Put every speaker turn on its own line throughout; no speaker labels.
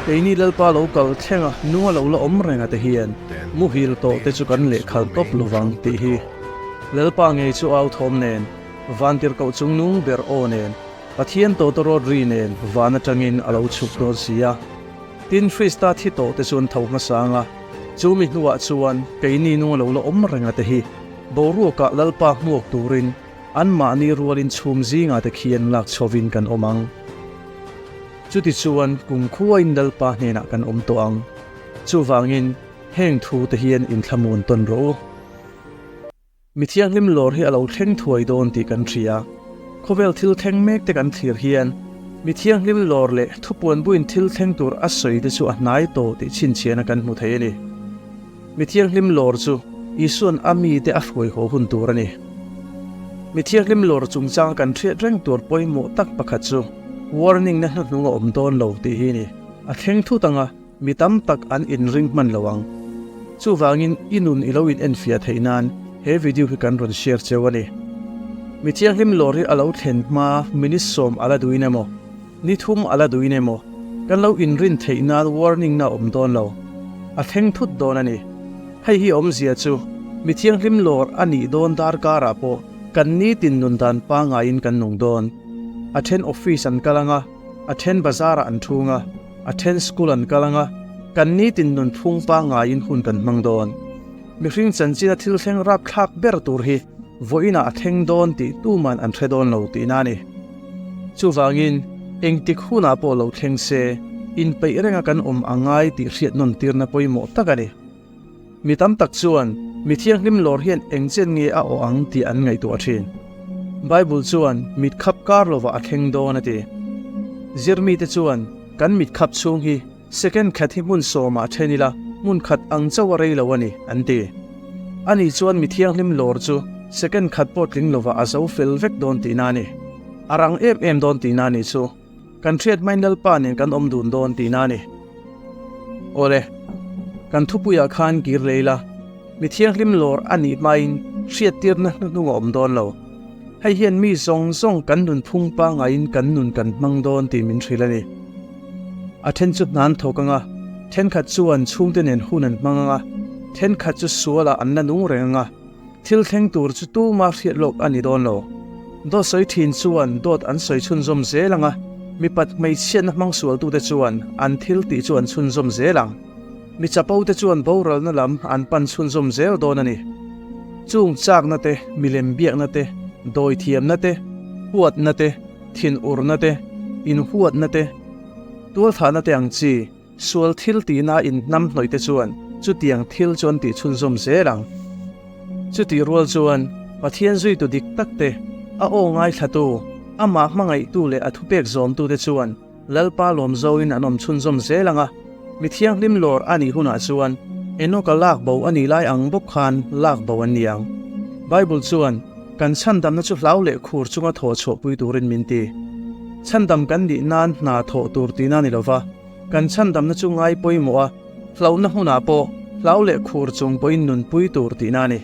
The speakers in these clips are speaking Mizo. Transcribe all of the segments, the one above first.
keini lalpa lo kal thleng a nunga lo la awm reng ate hian muhil tawh te chu kan leh khal tawp lo vang ti hi lalpa ngei chu au thawm nen vantir koh chung nu ber aw nen pathian tawh te rawt ri nen van atangin a lo chhuk dawn si a tin hrista thi tawh te chu an tho hmasa ang a Chumi hnuah chuan keini nung a lo la awm renga te hi boruakah Lalpa hmuak turin anmahni rualin chhum zinga te khian lak chho in kan awm ang. Chuti chuan kum khuain Lalpa hnenah kan awm tawh ang. Chuvangin heng thu te hian inthla mun tawn rawh u. Mi thianghlim lawr hi a lo thleng thuai dawn tih kan hria. Khawvel thil thleng mek te kan thlir hian Mi thianghlim lawr leh thupuan buin thil thleng tur a sawi te chu a hnai tawh tih chhinchhian a kan hmu thei a ni. Mi thianghlim lawr chu Isua'n a mi te a hruai haw hun tur a ni. Mi thianghlim lawr chungchanga kan hriat reng tur pawimawh tak pakhat chu warning-na hnuhnung a awm dawn lo tih hi a ni. A thleng thut ang a. Mi tam tak an inring hman lo ang. Chuvangin i nun i lo in en fiah theih nan he video hi kan rawn share cheu a ni. Mi thianghlim lorry a lo thlen hma minute sawm a la duin emaw, ni thum a la duin emaw kan lo inrin theih nan warning na awm dawn lo. A thleng thut dawn a ni. Hei hi a awm zia chu mi thianghlim lawr a nih dawn darkarah pawh kan ni tin nun dan pangaiin kan nung dawn. A then office an kal ang a, a then bazar ah an thung a. A then school an kal anga, kan nitin nun phung pa ngaiin hun kan hmang dawn. Mihring chanchinna thil thleng rapthlak ber tur hi vawiinah a theng dawn tih tuman an hre dawn lo tiin a ni. Chuvangin, engtik hunah pawh lo thleng se, inpeih renga kan awm a ngai tih hriatnawn tirna pawimawh tak a ni. Mi tam tak chuan mi thianghlim lawr hian eng chian nge a awh ang tih an ngaihtuah a thin. Bible chuan mit khap kar lovah a thleng dawn a ti. Zirmi te chuan kan mit khap chhung hi second khat hi hmun sawmah then ila hmun khat ang chauh a rei lo a ni an ti. A nih chuan mi thianghlim lawr chu second khat pawh tling lovah a zo fel vek dawn tihna a ni. A rang em em dawn tihna a nih chu. Kan hriat main Lalpa nen kan awm dun dawn ti na ni. Awle, kan thupuia khan kir lei la, mi thianghlim lawr a nih hmain hriat tirna hnuhnung a awm dawn lo. Hei hian mi zawng zawng kan nunphung pangaiin kan nun kan hmang dawn tih min hrilh a ni. A then chu hnan thawk anga, thenkhat chuan chhungte nen hun an hmang anga, thenkhat chu sualah an la nung reng anga, Thil thleng tur chu tuma hriat lawk a ni dawn lo. Dawtsawi thin chuan dawt an sawi chhunzawm zel ang a, mipat hmeichhiana hmangsualtute chuan an thil tih chu an chhunzawm zel ang. Mi chapote chuan boralna lam an pan chhunzawm zel dawn a ni. Chung chaknate, milem biaknate, dawi thiamnate, huatnate, thin urnate, inhuatnate, tualthahnate ang chi. Sual thil tihna inhnam hnawihte chuan chutiang thil chu an tihchhunzawm zel ang. Chutih rual chuan Pathian zuitu dik takte, a aw ngaithlatu, amah hmangaihtu leh a thupek zawmtute chuan Lalpa lawm zoin an awm chhunzawm zel ang a. Mi thianghlim lawr a nih hunah chuan Enoka lakbo a nih lai ang bawk khan lakbo an ni ang. Bible chuan. Kan chhandamna chu hlau leh khur chunga thaw chhohpui turin min ti. Chhandam kan nih nan hna thawh tur tina ni lova, kan chhandamna chu ngai pawimawh a, hlauhna hmunah pawh hlau leh khur chung pawhin nunpui tur tina a ni.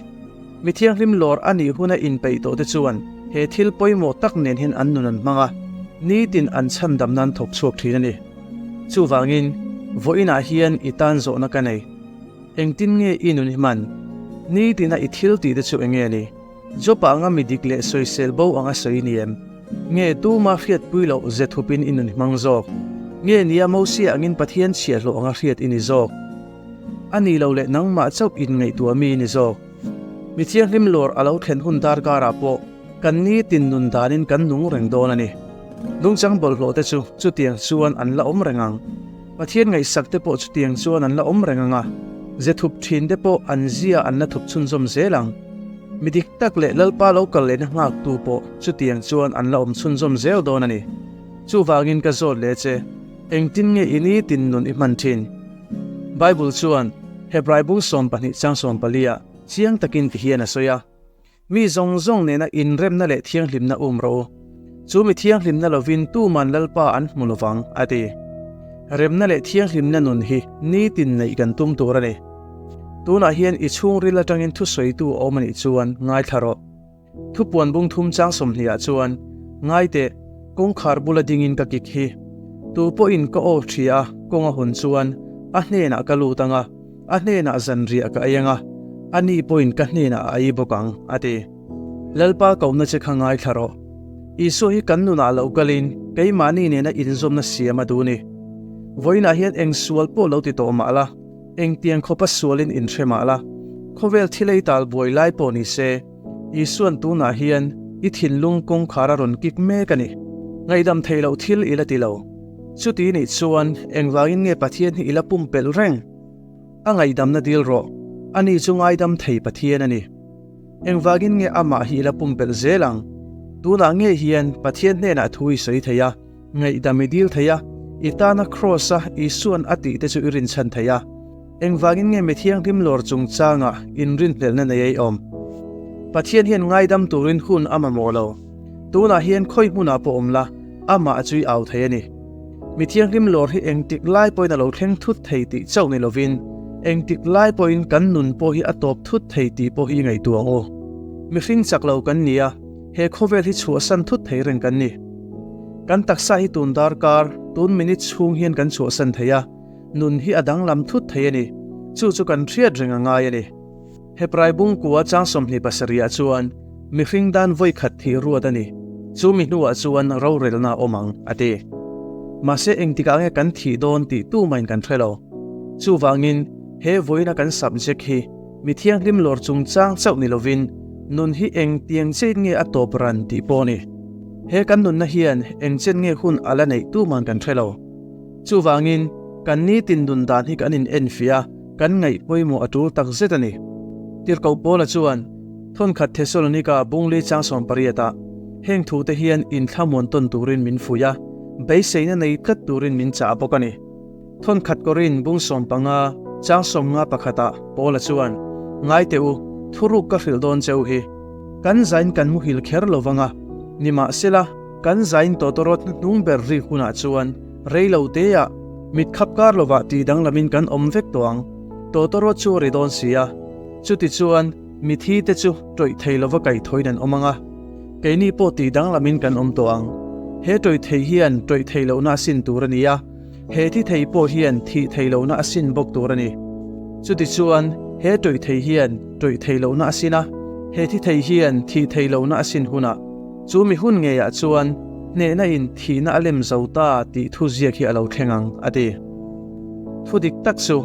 Mi thianghlim lawr a nih huna inpeih tawhte chuan he thil pawimawh tak nenhin an nun an hmang a, nitin an chhandamna an thawk chhuak thin a ni. Chuvangin, vawiinah hian i tan zawhna ka nei. Engtin nge i nun i hman? Nitina i thil tih te chu eng nge ni? Jopa anga mi dik leh sawisel bo anga sawi ni em? Nge tuma hriatpui loh ze thup in i nun hmang zawk? Nge nia Mosia angin Pathian chhia hlawh anga hriat i ni zawk? A ni lo leh nangmah chauh in ngaihtuah mi i ni zawk? Mi thianghlim lawr a lo thlen hun dar karah pawh kan nitin nun dan in kan nung reng dawn a ni. Nungchang bawlhhlawh te chu chutiang chuan an la awm reng ang. Pathian ngaihsak te pawh chutiang chuan an la awm reng ang a, zathup thin te pawh an zia an la thup chhunzawm zel ang. Mi dik tak leh Lalpa lo kal lehna nghak tu pawh chutiang chuan an la awm chhunzawm zel dawn a ni. Chuvangin ka zawt leh che, engtin nge i ni tin nun i hman thin? Bible chuan Hebrai bung sawm pahnih chang sawm pali ah chiang takin ti hian a sawi a, Mi zawng zawng nena inremna leh thianghlimna um rawh u. Chu mi thianghlimna lovin tuman Lalpa an hmu lovang, a ti. Remna leh thianghlimna nun hi nitin neih kan tum tur a ni. Tunah hian i chhungril atangin thusawitu a awm a nih chuan ngaithla rawh. Thupuan bung thum chang sawmhniah chuan, Ngai teh, kawngkhar bula dingin ka kik hi. Tupawhin ka aw ṭhia, kawnga hun chuan a hnenah ka lut anga. A hnenah zanriah ka ei ang a, ani pawhin ka hnenah a ei bawk ang, a ti. Lalpa kohna che kha ngaithla rawh. Isua hi kan nunah lo kalin keimahni nena inzawmna siam a dun i. Vawiinah hian eng sual pawh lo ti tawh mah la, engtiang khawpa sualin in hre mah la, khawvel thilei tal buai lai pawh ni se. Isuan tunah hian i thinlung kawngkhar a rawn kik mek a ni. Ngaihdam thei loh thil i la ti lo. Chuti nih chuan engvangin nge Pathian hi i la pumpelh reng? A ngaihdamna dil rawh, ani chu ngaidam thei Pathian a ni. Engvangin nge Amah hi i la pumpelh zel ang? Tunah nge hian Pathian hnenah thu i sawi thei a, Ngaihdam i dil thei a, i tana Kraws a Isuan a tih te chu i rinchhan thei a, engvangin nge mi thianghlim lawr chungchangah inrinhlelhna nei a i awm? Pathian hian ngaidam turin hun a mamawh lo, tunah hian khawi hmunah pawh awm la, Amah chu i au thei a ni. Mi thianghlim lawr hi engtik lai pawhin a lo thleng thut thei tih chauh ni lovin, engtik lai pawhin kan nun pawh hi a tawp thut thei tih pawh hi i ngaihtuah aw. Mihring chak lo kan ni a, He khawvel hi chhuahsan thut thei reng kan ni. Kan taksa hi tun darkar, tun minute chhung hian kan chhuahsan thei a, nun hi a danglam thut thei a ni. Chu chu kan hriat reng a ngai a ni. He praibung kua chang sawmhnih pasarihah chuan mihring dan vawikhat thih ruat a ni. Chu mi hnuah chuan rorelna a awm ang, a ti. Mahse engtikah nge kan thih dawn tih tu mahin kan hre lo. Chuvangin he vawiina kan subject hi Mi thianghlim lawr chungchang chauh ni lovin nun hi eng tiang chet nge a tawp ran tih pawh ni. He kan nunna hian eng chet nge hun a la neih tu man kan hre lo. Chuvangin, kan nitin nun dan hi kan in en fia, kan ngaih pawimawh a tul tak zet a ni. Tirhkoh Paula chuan thawnkhat Thessalonika bunglei changsawn pariatah heng thute hian inthlamuan ton turin min fuih a, beiseina nei tlat turin min chah bawk a ni. Thawnkhat Korin bung sawm panga chang sawm nga pakhata Paula chuan, Ngaite u, thuruk ka hrilh dawn che u hi. Kan zain kan muhil kher lo vang a, nimahsela, kan zain Totorot hnuhnung ber ri hunah chuan rei lo teah mit khap kar lovah tih danglamin kan awm vek tawh ang. Totorot chu ri dawn si a, chutichuan mithi te chu tawih thei lova kaihthawin an awm ang a, keini pawh tih danglamin kan awm tawh ang. He tawih thei hian tawih thei lohna a sin tur a ni a. He thi thei pawh hian thih thei lohna a sin bawk tur a ni. Chutichuan, he tawih thei hian tawih thei lohna a sin a, he thi thei hian thih thei lohna a sin hunah, chu mi hun ngeiah chuan hnehna in thihna a lem zo ta tih thu ziak hi a lo thleng ang, a ti. Thu dik tak chu,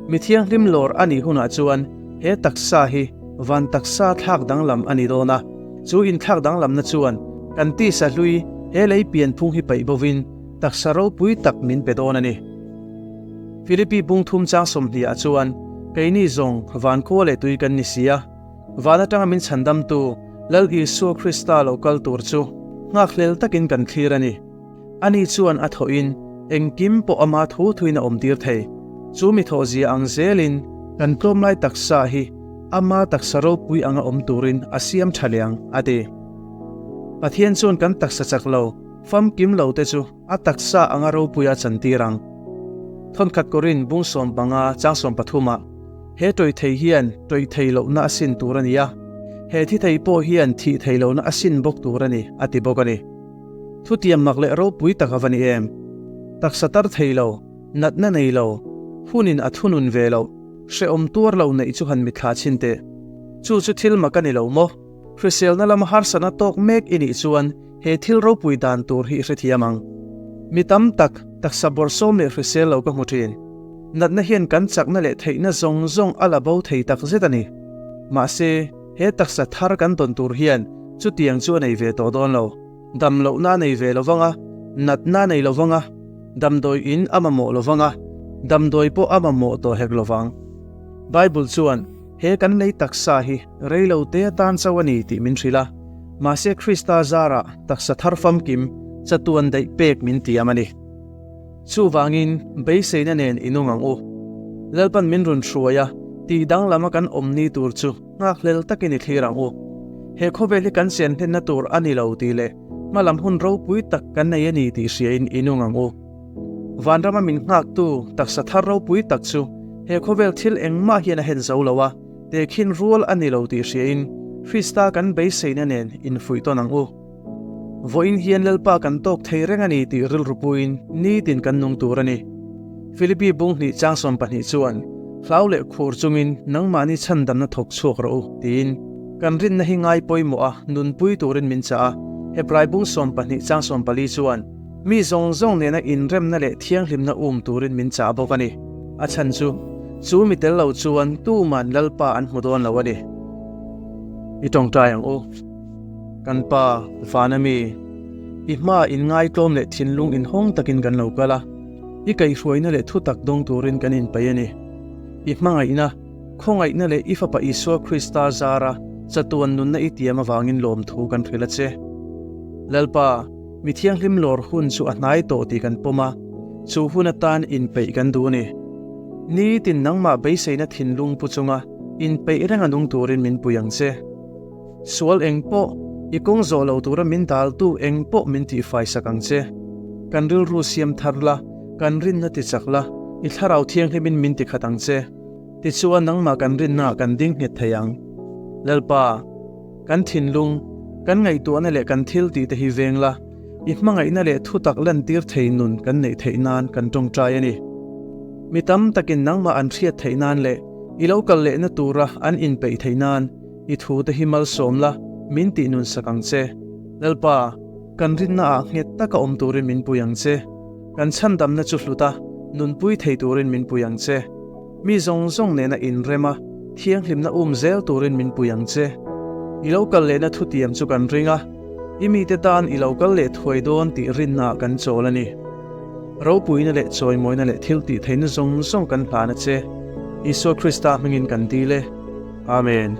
mi thianghlim lawr a nih hunah chuan he taksa hi van taksa thlak danglam a ni dawn a, chu inthlak danglamna chuan kan tisa hlui he lei pianphung hi paih bovin, Taksa ropui tak min pe dawn a ni. Philippi pungthum chang sawmhniah chuan, Keini zawng vankhua leh tui kan ni si a, van atanga min chhandamtu Lal Isua Krista lo kal tur chu nghakhlel takin kan thlir a ni. Ani chuan a thawhin engkim pawh ama thu thuin a awmtir thei. Chu mi thawhzia ang zelin kan tlawm lai taksa hi ama taksa ropui anga awm turin a siam tha liang, a ti. Pathian chuan kan taksa chak lo. Famkim lo te chu a taksa anga ropuia chan tir ang. Thawnkhat kawrin bung sawm panga chang sawm pathuma he tawi thei hian tawi thei lohna a sin tur a ni a, he thi thei pawh hian thih thei lohna a sin bawk tur a ni, a ti bawk a ni. Thutiam mak leh ropui tak a va ni em? Taksa tar thei lo, natna nei lo, hunin a thunun ve loh, hrehawm tuar lo neih chu han mitthla chhin teh. Chu chu thil mak a ni lo maw? Hriselna lama harsatna tawk mek i nih chuan He thil ropui dan tur hi hrethiam ang. Mi tam tak taksa bawrsawm leh hrisel lo ka hmu thin. Natna hian kan chakna leh theihna zawng zawng a la bo thei tak zet a ni. Mahse, he taksa thar kan dawn tur hian chutiang chu a nei ve tawh dawn lo. Damlohna a nei ve lo vang a, natna a nei lo vang a, damdawi in a mamawh lo vang a, damdawi pawh a mamawh tawh hek lo vang. Bible chuan he kan lei taksa hi Rei lo te atan chauh a ni tih min hrilh a, mahse Krista zar ah taksa thar famkim chatuan daih pek min ti am a ni. Chuvang in beiseina nen i nung ang u. Lalpan min run hruai a, tih danglam a kan awm ni tur chu nghakhlel tak in i thlir ang u. He khawvel hi kan sian hlenna tur a ni lo tih leh hmalam hun ropui tak kan nei a ni tih hria in i nung ang u. Vanram a min nghak tu taksa thar ropui tak chu he khawvel thil engmah hian a hen zo lo a, te khin rual a ni lo tih hriain Krista kan beiseina nen infuih tawn ang u. Vawiin hian Lalpa kan tawk thei reng a ni tih rilru puin nitin kan nung tur a ni. Filipi bunghnih changsawn pahnih chuan, Hlau leh khur chungin nangmahni chhandamna thawk chhuak rawh u, tiin kan rinna hi ngai pawimawha nunpui turin min chah a. Hebrai bung sawmpahnih changsawn pali chuan, Mi zawng zawng nena inremna leh thianghlimna um turin min chah bawk a ni. A chhan chu, Chu mi tel lo chuan tuman Lalpa an hmu dawn lo a ni. I tawngtai ang u, kan Pa, Vana mi. I hmaah inngaitawm leh thinlung inhawng takin kan lo kal a. I kaihhruaina leh thutak dawng turin kan inpaih a ni. I hmangaihna, khawngaihna leh i Fapa Isua Krista zara chatuan nunna i tiam avangin lawmthu kan hrilh a che. Lalpa. Mi thianghlim lawr hun chu a hnai tawh tih kan pawm a, chu hun atan inpeih kan duh a ni. Nitin nangmah beiseina thinlung pu chunga inpeih renga nung turin min pui ang che. Sual eng pawh i kawng zawh lo tura min dal tu eng pawh min tihfai sak ang che. Kan rilru siam thar la, kan rinna ti chak la, i thlarau thianghlimin min ti khat ang che. Tichuan nangmah kan rinna ah kan ding nghet thei ang. Lalpa. Kan thinlung, kan ngaihtuahna leh kan thil tih te hi veng la, i hmangaihna leh thutak lantir thei nun kan neih theih nan kan tawngtai a ni. Mi tam takin nangmah an hriat theih nan leh i lo kal lehna tura an inpeih theih nan i thu te hi malsawm la min tih nun sak ang che. Lalpa, kan rinna ah nghet taka awm turin min pui ang che. Kan chhandamna chu hluta nunpui thei turin min pui ang che. Mi zawng zawng nen a inrem a, thianghlimna um zel turin min pui ang che. I lo kal lehna thutiam chu kan ring a, i mite tan i lo kal leh thuai dawn tih rinna ah kan chawl a ni. Ropuina leh chawimawina leh thiltihtheihna zawng zawng kan hlan a che. Isua Krista hmingin kan dil e. Amen.